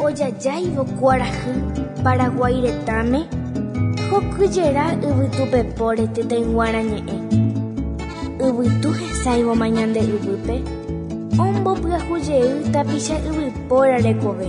Ojajáivo kuarahy Paraguái retãme, hokyjera yvytupepóre tetãyguarã ñe'ẽ. Yvytu hesãivoma ñande yvýpe, ombopyahu jey tapicha yvypóra rekove.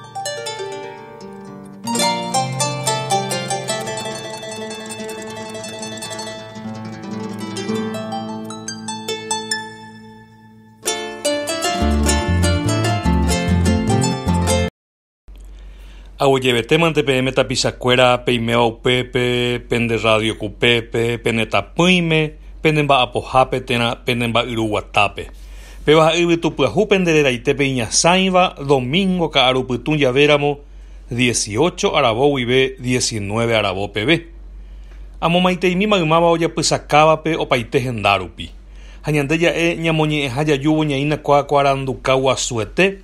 Agueyevetémante peẽme tapichakuéra peiméva upépe, pende rrádio kupépe, pene tapỹime, pene mba'apohápe térã pene mba'yru guatápe. Pevaha yvytupyahu pende reraite pe iñasãiva domingo ka'aru pytũ javéramo dieciocho aravo guive diecinueve aravo peve. Amomaiteimi maymáva ojapysakávape opaite henda rupi. Ha ñande ja'e ñamoñe'ẽha jajúvo ñaína kuaakuaranduka guasuete,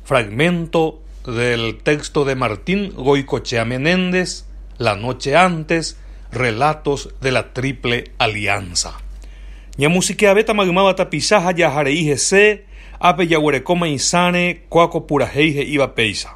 Fragmento del texto de Martín Goicoechea Menéndez, La noche antes, Relatos de la Triple Alianza. Ñamusikeavéta maymáva tapicha ha jaha rei hese, ápe jaguerekóma isãre kua ko purahéi he'íva péicha.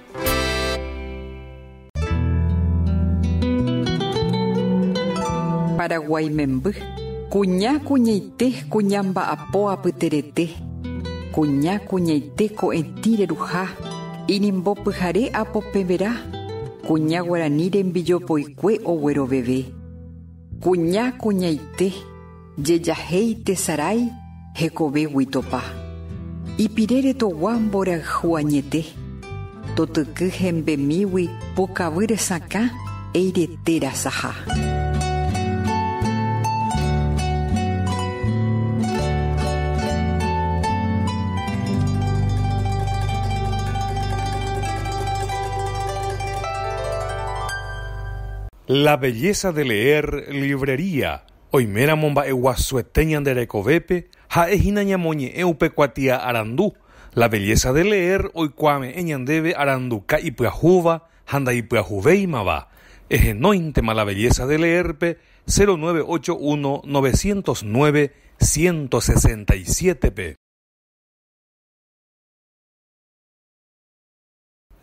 Paraguái memby, kuña kuñaite kuña mba'apo apyterete, kuña kuñaite ko'ẽtĩ reruha, inimbo pyhare apopẽvera, kuña guarani rembijopoikue ogueroveve. Kuña kuñaite. Jejahéi tesarái hekove guitopa. Ipire retogua mborayhu añete. Totyky hembemígui pukavy resakã eire téra saha. La belleza de leer Librería Oiméramo mba'eguasuete ñande rekovépe, ha'e hína ñamoñe'ẽ upe kuatia arandu, La belleza de leer oikuaave'ẽ ñandéve aranduka ipyahúva ha ndaipyahuvéimava, ehenóintema La belleza de leer-pe 0981 909 167-pe.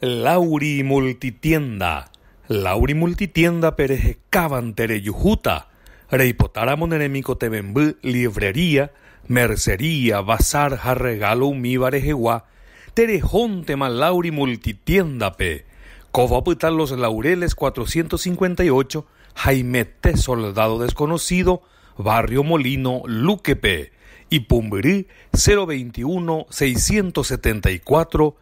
Lauri Multitienda, Lauri Multitienda-pe rehekávante rejuhúta, reipotáramo ne remikotevẽmby livrería, mercería, bazar ha regalo umíva rehegua, terehóntema Lauri Multitienda-pe. Kóva opyta Los Laureles 458, Haimete Soldado Desconocido, barrio Molino, Luque-pe, ipumbyry 021 674